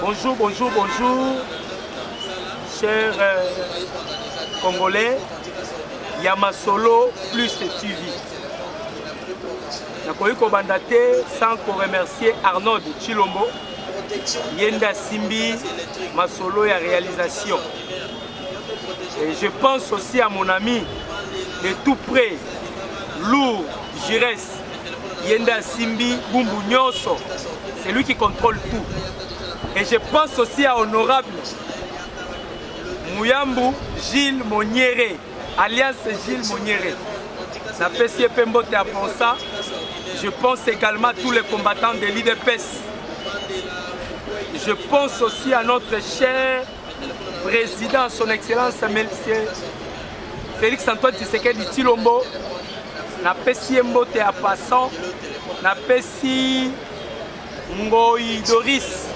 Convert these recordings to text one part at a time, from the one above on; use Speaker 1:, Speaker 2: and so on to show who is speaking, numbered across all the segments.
Speaker 1: Bonjour, bonjour, bonjour, chers euh, Congolais, Yamasolo plus TV. nakoki kobanda te sans koremercier arnold chilombo ye nde asimbi masolo ya réalisation et je pense aussi à mon ami de tout près lourd giresse ye nde asimbi bumbu nyonso c'est lui qui contrôle tout et je pense aussi à honorable muyambu gilles moniere alias gilles moniere napesi ye mpe mbote ya ponsa je pense également à tous les combattants de l'idps je pense aussi à notre cher Président, son excellence, monsieur Félix Antoine Tshisekedi Tilombo, na pesi ye mbote ya passant, na pesi Ngoyi Doris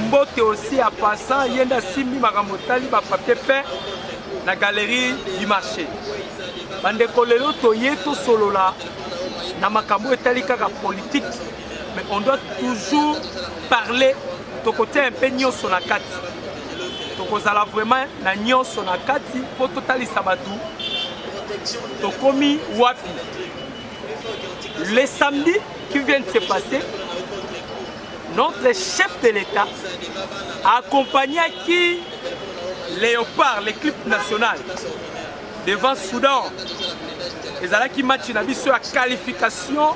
Speaker 1: mbote aussi ya passant, ye nda simbi makambo tali ba papier peint na galerie du marché. Bandeko lelo toye tosolola na makambo etali kaka politique mais on doit toujours parler tokotia mpe nyonso na kati tokozala vraiment na nyonso na kati mpo totalisa bato tokomi wapi le samedi qui vient de se passer notre chef de l'état accompagnaki léopard l'équipe nationale devant soudan ezalaki match na biso ya qualification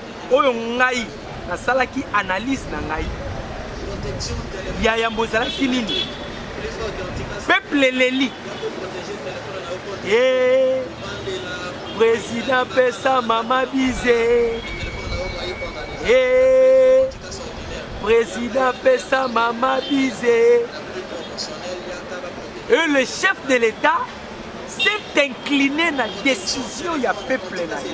Speaker 1: oyo ngai nasalaki analyse na ngai ya yambo ezalaki nini peuple eleli e président pesa mama bize e président pesa mama bize et le chef de l'état s'est incliné na décision ya peuple na ye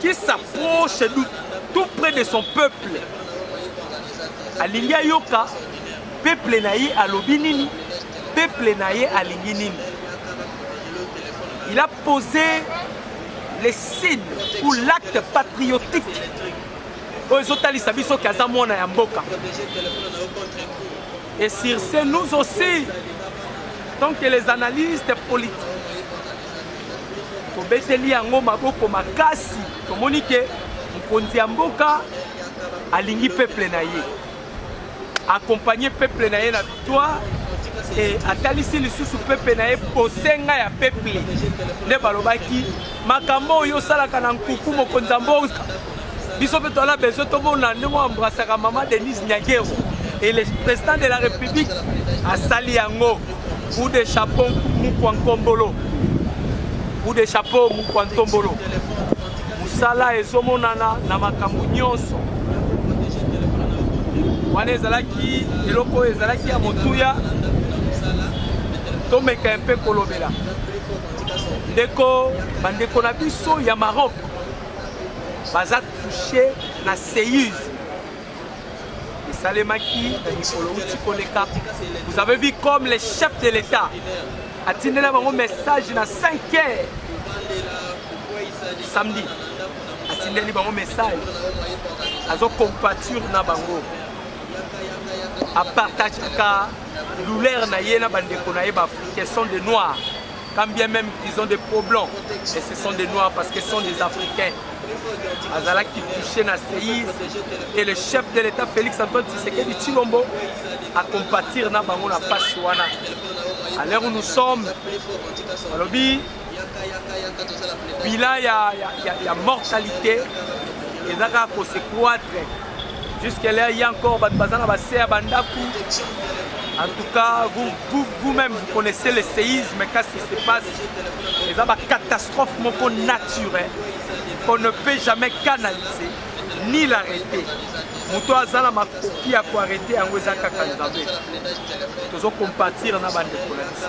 Speaker 1: qui s'approche de tout près de son peuple alingi ayoka peuple na ye alobi nini peuple na ye alingi nini il a posé les signes ou l'acte patriotique oyo ezotalisa biso ke aza mwana ya mboka et sur ce nous aussi tant que les analystes politiques Tobeteli yango maboko makasi, tomoni ke mokonzi ya mboka alingi peuple na ye, accompagne peuple na ye na victoire e atalisi lisusu pepe na ye bosenga ya peple nde balobaki makambo oyo osalaka na nkuku mokonzi ya mboka biso mpe toala besoin tomona ndenge oambrasaka mama denise nyakero et le président de la république asali yango coup de chapeau mukwa nkombolo coup de chapeau mukwa ntombolo mosala ezomonana na makambo nyonso wana ezalaki eloko oyo ezalaki ya motuya tomeka mpe kolobela ndeko bandeko na biso ya maroc baza touche na seuse esalemaki na mikolo uti koleka vous avez vu comme le chef de l'état atindela bango message na 5 heures samedi atindeli bango message azocompature na bango apartagaka douleur na ye na bandeko na ye baafricain sont de noir Quand bien même qu'ils ont des problèmes, et ce sont des Noirs parce que ce sont des Africains. Azala qui touchait na séisme et le chef de l'État Félix Antoine Tshisekedi Chilombo à compatir na bango na pasi wana. À l'heure où nous sommes, alobi bilan ya, ya, ya, ya mortalité ezaka ko se croître Jusque là, il y a encore bato baza na base ya bandako. En tout cas, vous, vous, vous-même, vous connaissez le séisme, qu'est-ce qui se passe Les ba catastrophe moko naturelle qu'on ne peut jamais canaliser ni l'arrêter. moto aza na makoki ya koarete yango eza kaka nzambe tozo compatir na bandeko na biso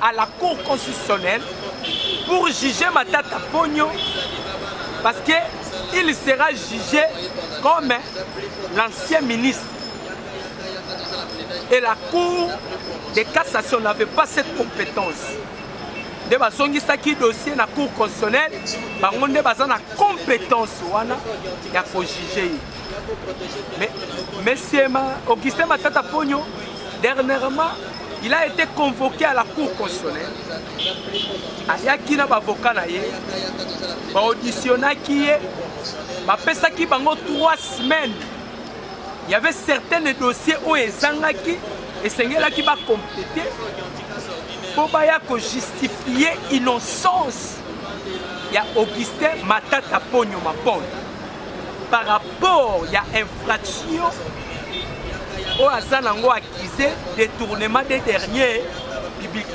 Speaker 1: à la cour constitutionnelle pour juger Matata Pogno parce que il sera jugé comme l'ancien ministre. Et la cour de cassation n'avait pas cette compétence. nde bazongisaki dossier na cour constitutionnelle bango nde baza na compétence wana ya kojuge ye mais monsieur augustin matata pogno dernièrement il a été convoqué à la cour constitutionnelle ayaki na bavoka na ye baauditionaki ye bapesaki bango 3 semaines y avait certaines dossiers oyo ezangaki esengelaki bakomplete mpo baya kojustifie innocence ya augustin matata ponyo mapolo par rapport ya infraction oyo aza nango accuse détournement des derniers public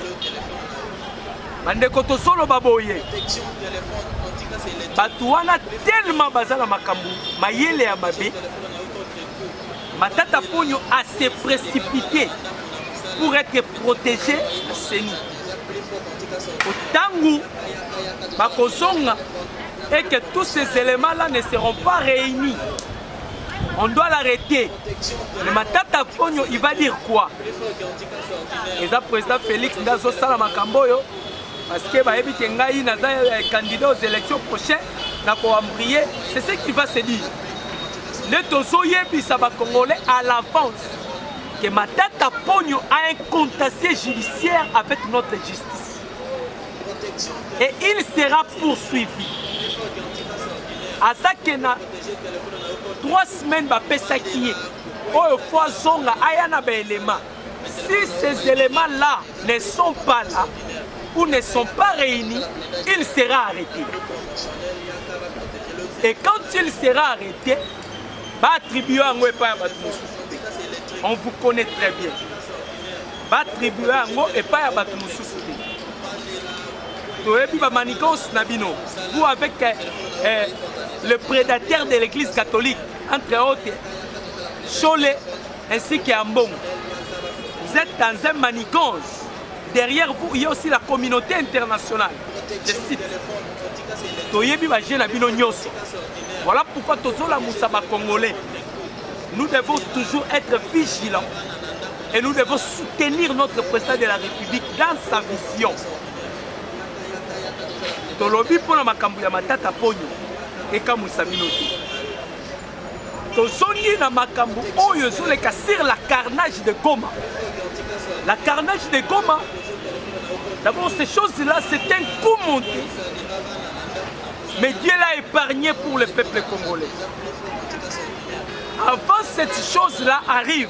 Speaker 1: bandeko tozoloba boye bato wana tellement baza na makambo mayele ya mabe matata ponyo a se précipité pour être protégé na seni ntango bakozonga et que tous ces éléments là ne seront pas réunis on doit l'arrêter mais matata ponyo il va dire quoi eza président félix nde azosala makambo oyo parce que bayebi ke ngai naza eh, candidat aux élections prochain na koambrie c'est ce qui va se dire nde tozoyebisa bacongolais à l'avance que matata ponyo a un contasier judiciaire avec notre justice et il sera poursuivi azake na 3 semaines bapesaki ye oyo fo azonga aya na baelema si ces éléments là ne sont pas là ou ne sont pas réunis il sera arrêté et quand il sera arrêté baattribue yango epai ya bato mosusu te on vous connaît très bien batribue yango epai ya bato mosusu te toyebi bamanikansi na bino vous avec eh, eh, le prédateur de l'église catholique entre autres shole ainsi que ambongo vous êtes dans un manigance derrière vous il y a aussi la communauté internationale je cite toyebi baje na bino nyonso voilà pourquoi tozolamusa bacongolais nous devons toujours être vigilants Et nous devons soutenir notre président de la République dans sa vision. tolobi mpo na makambo ya matata ponyo ekamwisa bino te tozongi na makambo oyo ezoleka sur la carnage de goma la carnage de goma d'abord ces choses là c'est un coup monté mais dieu l'a épargné pour le peuple congolais avant cette chose là arrive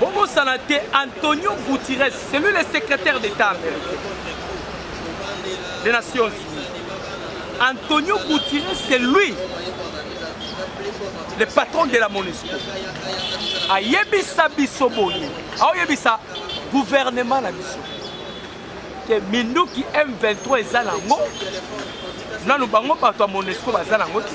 Speaker 1: bobosana te antonio gutires celui le secrétaire d'état américain des nations unies antonio gutires c'est lui le patron de la monesco ayebisa biso boye aoyebisa gouvernement na biso te minduki m23 eza nango nanu bango bato ya monesco baza nango te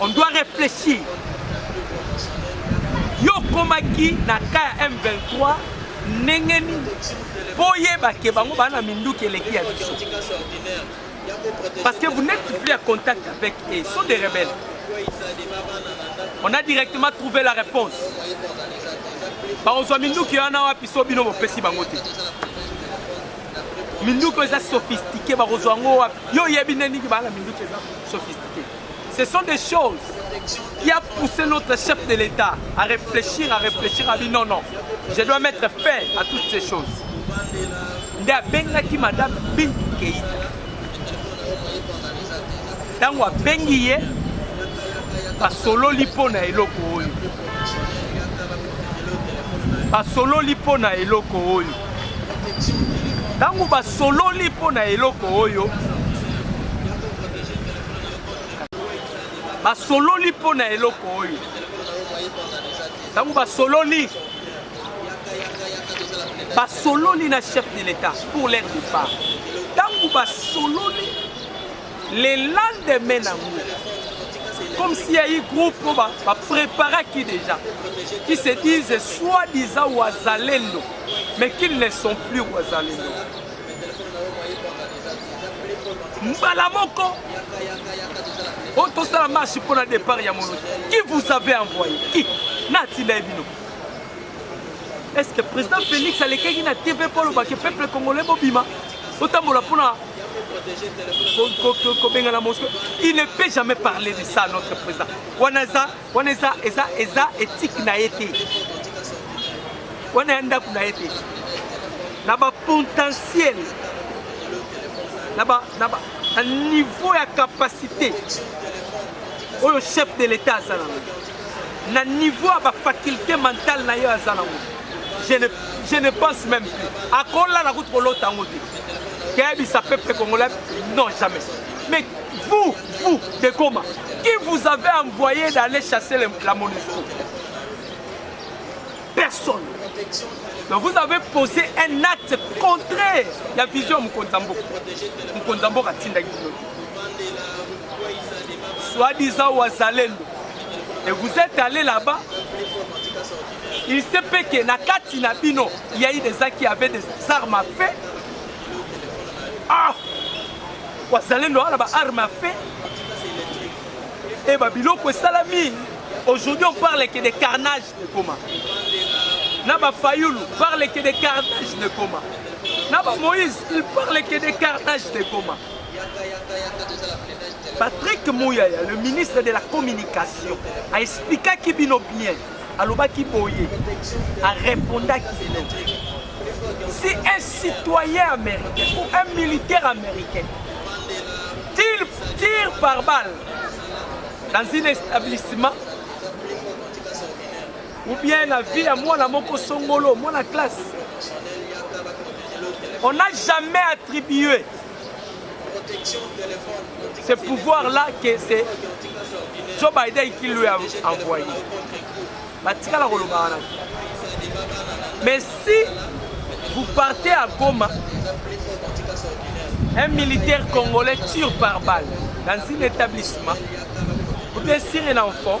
Speaker 1: on doit réfléchir yo okomaki na ka ya m23 ndenge nini mpo oyeba ke bango baa na minduki eleki ya biso parce que vous n'êtes plus à contact avec eux ils sont des rebelles on a directement trouvé la réponse bakozwa minduki wana wapi so bino bopesi bango te minduki eza sophistiqué bakozwa yango wapi yo oyebi nde ndingi bana minduki eza sophistiqué ce sont des choses qui a poussé notre chef de l'état à réfléchir à réfléchir à dit non non je dois mettre fin à toutes ces choses nde abengaki madame bintu keita ntango abengi ye basololi mpo na eloko oyo basololi mpo na eloko oyo ntango basololi mpo na eloko oyo basololi mpo na eloko oyo ntango basololi basololi na chef de l'etat pour leur départ ntango basololi Le lendemain nango comme s'il y a eu groupe oyo bapreparaki déjà qui se disent soi-disant wazalendo mais qu'ils ne sont plus wazalendo mbala moko oyo tosala marche mpo na départ ya monoki qui vous avez envoyé qui na atinda ye bino est ce que président félix alekaki na tv mpo alobaki peuple congolais bobima otambola mpo na kobengana mosco il ne peut jamais parler de ça notre président wana eza wana eza eza eza éthique na ye te wana ya ndako na ye te na bapotentiel na niveau ya capacité oyo chef de l'état azala na niveau ya ba faculté mentale na ye aza nango je ne, je ne pense même plus akolala kutu kolota yango te keyebisa peuple congolais non jamais mais vous vous de goma qui vous avez envoyé d'aller chasser la monisco personne donc vous avez posé un acte contraire ya vision ya mokonzi ya mboka mokonzi ya mboka atindaki bino soit disant wazalendo et vous êtes allé là-bas il se peut que na kati na bino il y a eu des gens qui avaient des armes à feu ah wazalendo wana ba armes à feu et ba biloko esalami aujourd'hui on parle que des carnages Ekoma. Na ba Fayulu parle que de carnage de Goma. Na ba Moïse, il parle que de carnage de Goma. Patrick Mouyaya, le ministre de la communication, a expliqué qui bino bien. Alobaki boye, a répondaki bino. Si un citoyen américain ou un militaire américain tire, tire par balle dans un établissement ou bien na vie ya mwana moko songolo mwana classe on n'a jamais attribué ce pouvoir là que c'est joe biden qui lui a envoyé batikala koloba wana mais si vous partez à goma un militaire congolais tire par balle dans un établissement ou bien sur un enfant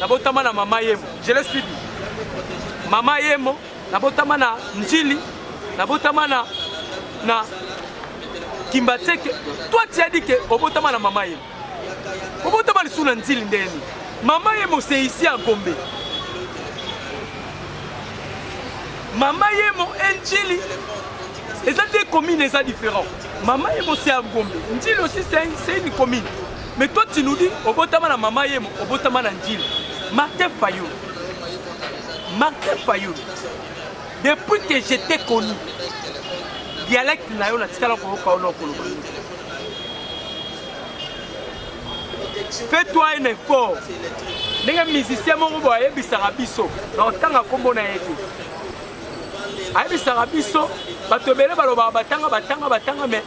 Speaker 1: nabotama na mama yemo je l'ai suivi mama yemo nabotama na njili nabotama na na kimbatseke toi tu as dit que obotama na mama yemo obotama lisusu na njili ndenge nini mama yemo c'est ici à gombe mama yemo e njili eza deux communes eza différent mama yemo c'est à gombe njili aussi c'est une commune Mais toi tu nous dis obotama na mama yemo obotama na njili Martin Fayulu Martin Fayulu depuis que je t'ai connu dialecte na yo natikala koyoka yo nokoloba fais-toi un effort ndenge musicien moko boye ayebisaka biso na otanga nkombo na ye te ayebisaka biso bato ebele balobaka batanga batanga batanga me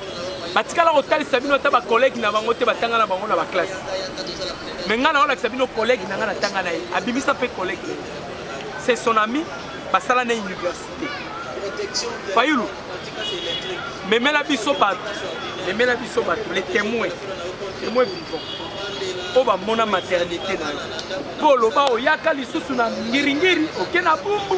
Speaker 1: batikala kotalisa bino ata bakolege na bango te batanga na bango na baklasse me ngai naolakisa bino kolege na ngai natanga na ye abimisa mpe kolege na ye se son ami basala na université fayulu memela biso bato memela biso bato le témoin témoin vivant oyo bamona maternité na yo mpo oloba oyaka lisusu na ngiringiri oke na bumbu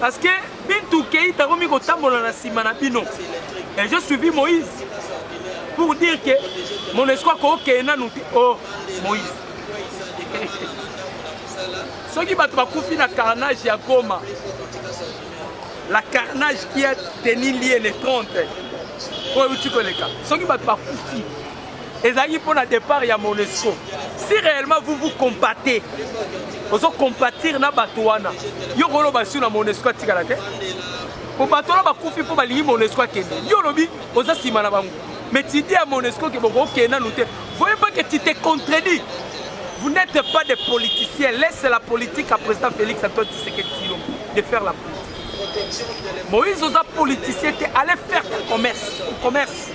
Speaker 1: Parce que Bintou Keita akomi kotambola na nsima na bino. Et je suivi Moïse pour dire que mon espoir kokee nanu te oh Moïse. soki bato bakufi na carnage ya Goma la carnage qui a tenu lieu le 30 oyo euti koleka soki bato bakufi ezalaki mpo na départ ya monesco si réellement vous vous compatez ozo compatir na bato wana yo koloba sur na monesco atikala te po bato wana bakufi mpo balingi monesco akende yo olobi oza nsima na bango mais tidi ya monesco ke bokokende nanu te voye pas que tu te contredis Vous n'êtes pas des politiciens. Laisse la politique à président Félix Antoine Tshisekedi de faire la politique. Moïse Oza politicien, allez faire ton commerce. Ton commerce.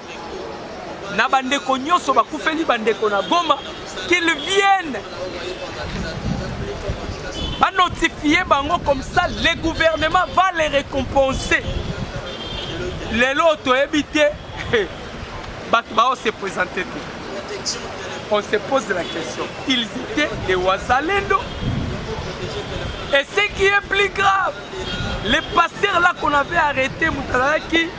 Speaker 1: na bandeko nyonso bakufeli bandeko na Goma qu'ils viennent ba notifier bango comme ça le gouvernement va les récompenser lelo oyo toyebi te bato bao se présente te on se pose la question ils étaient des wazalendo et ce qui est plus grave le pasteur là qu'on avait arrêté moto azalaki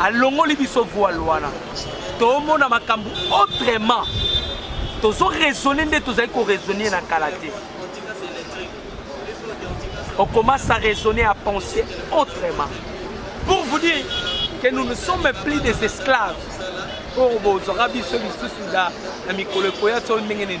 Speaker 1: alongoli biso voile wana tomona makambo autrement tozo raisonne nde tozali koraisonne na kala te on commence à raisonner à penser autrement pour vous dire que nous ne sommes plus des esclaves oyo bozwaka biso lisusu na mikolo ekoya to ndenge nini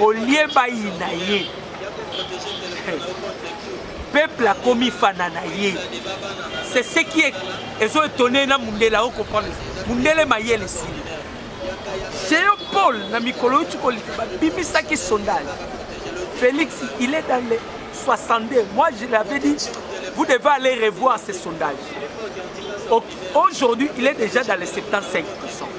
Speaker 1: olie bayina ye peuple akomi fana na ye c'est ce qui est ezo etone na mundela o comprendre mundele mayele sili geopol na mikolo yo tikolika babimisaki sondage félix il est dans les 62 moi je l'avais dit vous devez aller revoir ces sondages aujourd'hui il est déjà dans les 75 pourcent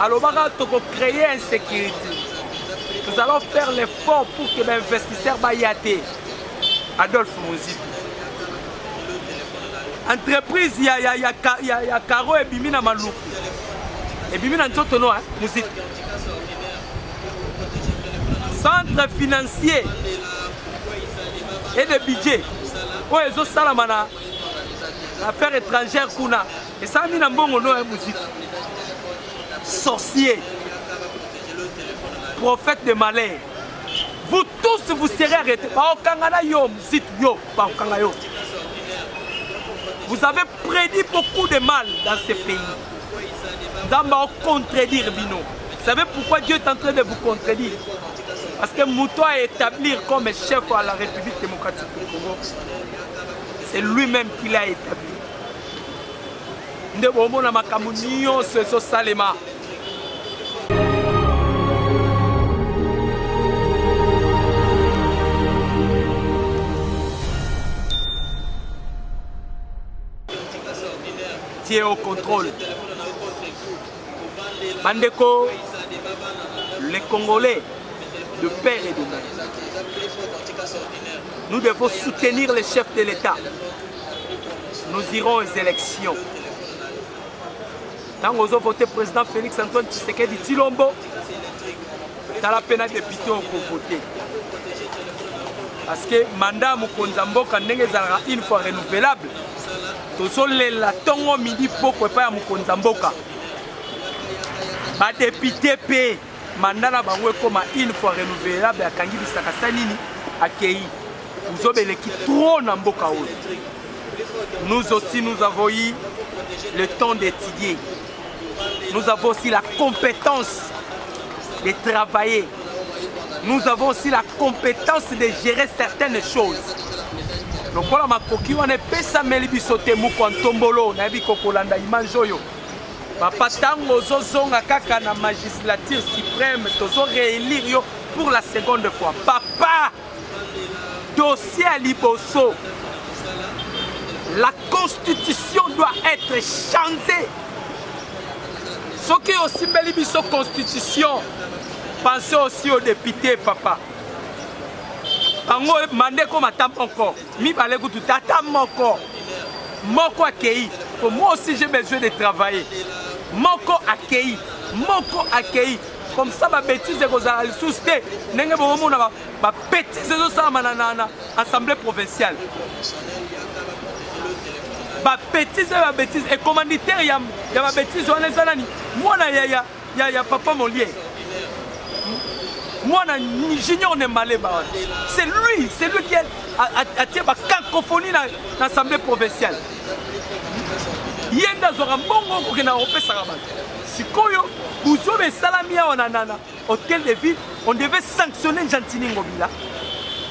Speaker 1: alobaka toko créer insécurité nous allons faire l'effort pour que bainvestisseur baya te adolphe mozipi entreprise ya, ya, ya, ya, ya caro ebimi na maluku ebimi na nzoto no eh, mozipi centre financier et de budget oyo ezosalama na affaire étrangère kuna esalami na mbongo no ya muziki sorcier prophète de malheur vous tous vous serez arrêté baokanga na yo muziki yo baokanga yo vous avez prédit beaucoup de mal dans ce pays nzambe aocontredire bino vous savez pourquoi dieu est en train de vous contredire parce que moto a établir comme chef à la république démocratique du congo c'est lui-même qui l'a établi nde bomona makambo nyonso ezosalema tie au contrôle bandeko les congolais de père et de mère nous devons soutenir les chefs de l'état nous irons aux élections ntango ozo vote président félix antoine tshisekedi tilombo tala mpe na depute okovote parce que mandat ya mokonzi ya mboka ndenge ezalaka une fois renouvelable tozolela ntongo midi poko epai ya mokonzi ya mboka badepute mpe Mandat na bango ekoma une fois renouvelable akangi bisaka sa nini akeyi buzoba eleki trop na mboka oyo nous aussi nous avons eu le temps d'étudier nous avons aussi la compétence de travailler nous avons aussi la compétence de gérer certaines choses lokola makoki wana epesameli biso te mokwa ntombolo nayebi kokolanda image oyo Papa tango ozozonga kaka na magislature supreme tozo réélire yo pour la seconde fois. Papa dossier à liboso. La constitution doit être changée. soki osimbeli biso constitution pense aussi au député papa bango mande ekoma ta moko mibale kutu tata moko moko akei po moi aussi j'ai besoin de travailler moko akei moko akei comme ça babétise ekozala lisusu te ndenge bokomona babétise ezosalama na assemblée provinciale babétise oyo babétise ecommanditaire ya babétise wana eza nani mwana yaya ya ya papa molie mwana junior ne maleba wana c'est lui c'est lui qui atie bacacophonie na assemblée provinciale ye nde azwaka mbongo kokenda kopesaka bato sikoyo buzoba esalami awa na nana hotel de ville on devait sanctionner gentini ngobila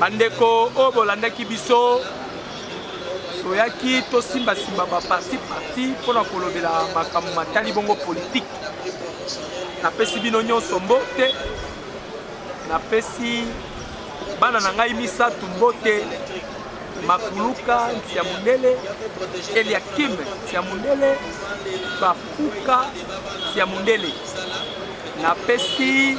Speaker 1: bandeko oyo bolandaki biso toyaki tosimbasimba baparti parti mpo na kolobela makambo matali bongo politike napesi bino nyonso mbote napesi bana na ngai misato mbote makuluka ntia mondele eliakim ntia mondele bafuka ntia mondele napesi